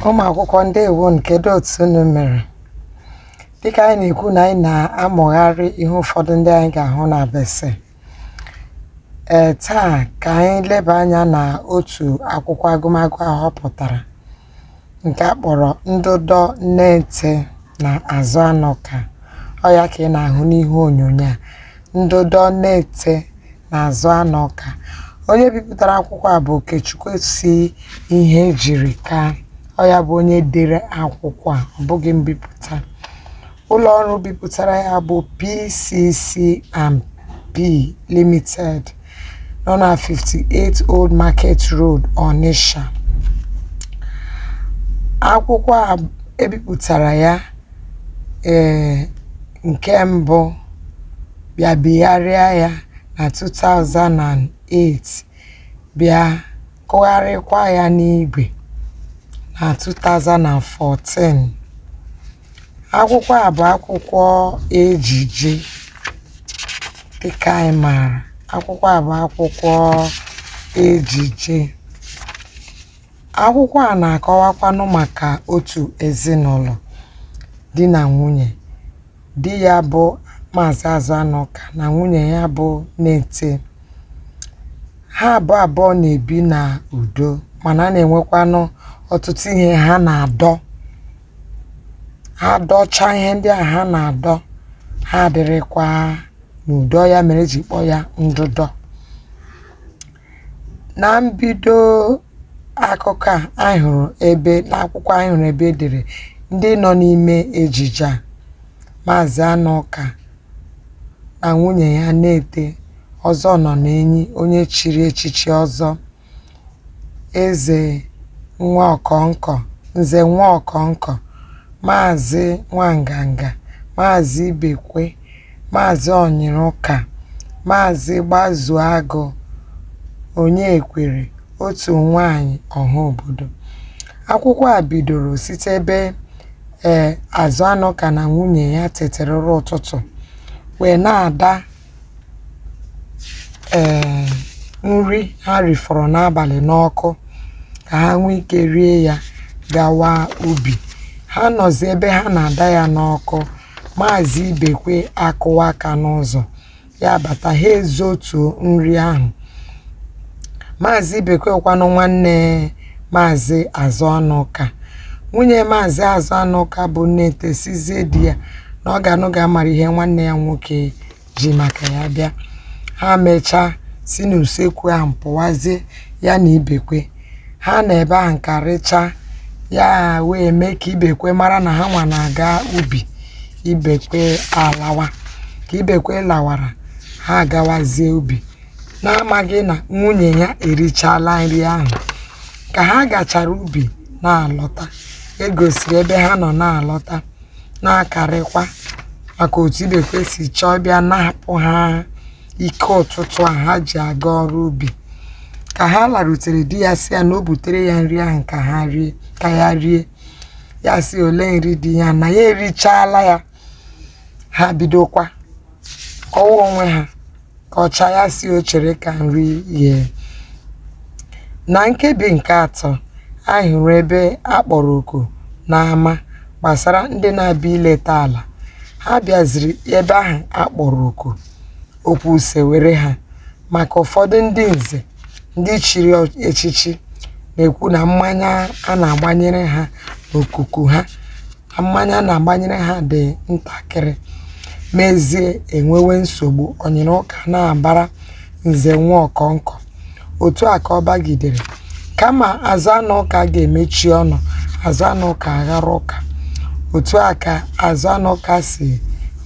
ụmụ akwụkwọ ndewo nụ kedu otu unu mere dịka anyị na-ekwu na anyị na-amụgharị ihe ụfọdụ ndị anyị ga-ahụ na BECE ee taa ka anyị leba anya na otu akwụkwọ agụmagụ a họpụtara nke a kpọrọ ndụdọ nnete na azụanụka ọ ya ka ị na-ahụ n'ihu onyonyo a ndụdọ nnete na azụanụka onye bipụtara akwụkwọ a bụ okechukwu c ihejirika ọ ya bụ onye dere akwụkwọ a ọ bụghị mbipụta Ụlọọrụ bipụtara ya bụ PCCMP Limited nọ na 58 Old Market Road, Onitsha. Akwụkwọ a e bipụtara ya ee nke mbụ bịa bigharịa ya na 2008 bịa kụgharịkwa ya n'igwe na 2014. Akwụkwọ a bụ akwụkwọ ejije dịka anyị maara akwụkwọ a bụ akwụkwọ ejije akwụkwọ a na-akọwakwanụ maka otu ezinụlọ di na nwunye di ya bụ Maazị Azụanụka na nwunye ya bụ Nnete ha abụọ abụọ na-ebi na udo mana a na-enwekwanụ ọtụtụ ihe ha na-adọ ha dọcha ihe ndị ahụ ha na-adọ ha adịrịkwa n'udo ọ ya mere e ji kpọọ ya ndụdọ na mbido akụkọ a anyị hụrụ ebe n'akwụkwọ anyị hụrụ ebe e dere ndị nọ n'ime ejije a maazị anụka na nwunye ya nnete ọzọ ọnọnenyi onye chiri echichi ọzọ Eze Nwaọkọnkọ, Nze Nwaọkọnkọ, Maazị Nwanganga, Maazị Ibekwe, Maazị Ọnyịrụka, Maazị Gbazuagụ Onyekwere, otu nwaanyị ọha obodo. Akwụkwọ a bidoro site ebe ee Azụanụka na nwunye ya tetere ụra ụtụtụ wee na-ada um nri ha rifọrọ n'abalị n'ọkụ ka ha nwee ike rie ya gawa ubi. Ha nọzi ebe ha na-ada ya n'ọkụ, maazị Ibekwe akụwa aka n'ụzọ, ya abata, ha ezotuo nri ahụ. Maazị Ibekwe wụkwanụ nwanne Maazị Azụanụka. Nwunye Maazị Azụanụka bụ Nneete sịzie di ya na ọ ga-anụ ga-amara ihe nwanne ya nwoke ji maka ya bịa. Ha mechaa si n'usekwu ahụ pụwazie ya na Ibekwe. Ha nọ ebe ahụ karịchaa, ya wee mee ka Ibekwe mara na ha nwa na-aga ubi. Ibekwe alawa. Ka Ibekwe lawara, ha agawazie ubi. na-amaghị na nwunye ya erichala nri ahụ ka ha gachara ubi na-alọta e gosiri ebe ha nọ na-alọta na-akarịkwa maka otu ibekwe si chọọ bịa napụ ha ike ụtụtụ a ha ji aga ọrụ ubi ka ha larutere di ya sị ya na o butere ya nri ahụ ka ya rie ya sị olee nri dị ya na ya erichala ya ha bidokwa kọwa onwe ha ka ọcha ya sị o chere ka nri ghee na nkebi nke atọ anyị hụrụ ebe a kpọrọ oku n'ama gbasara ndị na-abịa ileta ala ha bịaziri ebe ahụ a kpọrọ oku okwu sewere ha maka ụfọdụ ndị nze ndị chiri ọ- echichi na-ekwu na mmanya a na-agbanyere ha n'okuku ha na mmanya a na-agbanyere ha dị ntakịrị mezie enwewe nsogbu ọnyịrịụka na-abara nze nwa ọkọnkọ otu a ka ọ bagidere kama azụanụka ga-emechi ọnụ azụanụka aghọrọ ụka otu a ka azụanụka si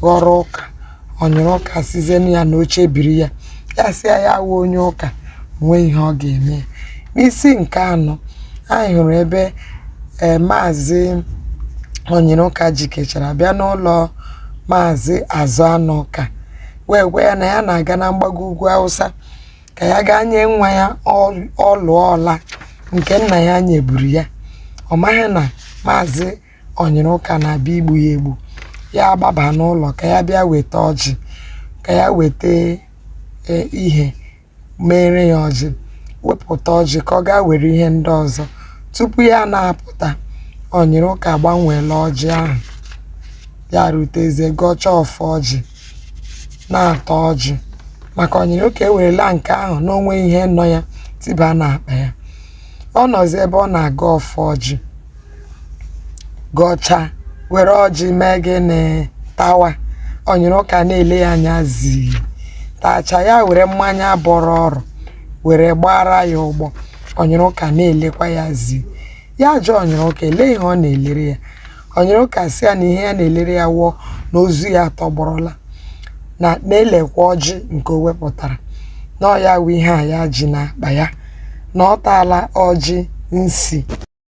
ghọrọ ụka ọnyịrịụka sịzienụ ya na o chebiri ya ya sị ya ya wụ onye ụka nwee ihe ọ ga-eme ya n'isi nke anọ anyị hụrụ ebe ee maazị ọnyịrịụka jikechara bịa n'ụlọ maazị azụanụka wee gwa ya na ya na-aga na mgbago ugwu awụsa ka ya gaa nye nwa ya ọl- ọlụ ọla nke nna ya nyeburu ya ọ maghị na maazị ọnyịrịụka na-abịa igbu ya egbu ya agbaba n'ụlọ ka ya bịa weta ọjị ka ya weta e, ihe mere ya ọjị wepụta ọjị ka ọ gaa were ihe ndị ọzọ tupu ya na-apụta ọnyịrịụka gbanweela ọjị ahụ ya rutezie gọchaa ọfọ ọjị na-ata ọjị maka ọnyịrịụka ewerela nke ahụ na o nweghị ihe nọ ya tiba n'akpa ya ọ nọzi ebe ọ na-agọ ọfọ ọjị gọchaa were ọjị mee gịnị tawa onyiriụka na-ele ya anya zii tachaa ya were mmanya bọrọ ọrụ were gbara ya ụgbọ onyiriụka na-elekwa ya zii ya jụọ onyiriụka elee ihe ọ na-elere ya onyiriụka sị ya na ihe ya na-elere ya wụ na ozu ya atọgbọrọla na na-elekwa ọjị nke o wepụtara na ọ ya wụ ihe a ya ji n'akpa ya na ọ taala ọjị nsi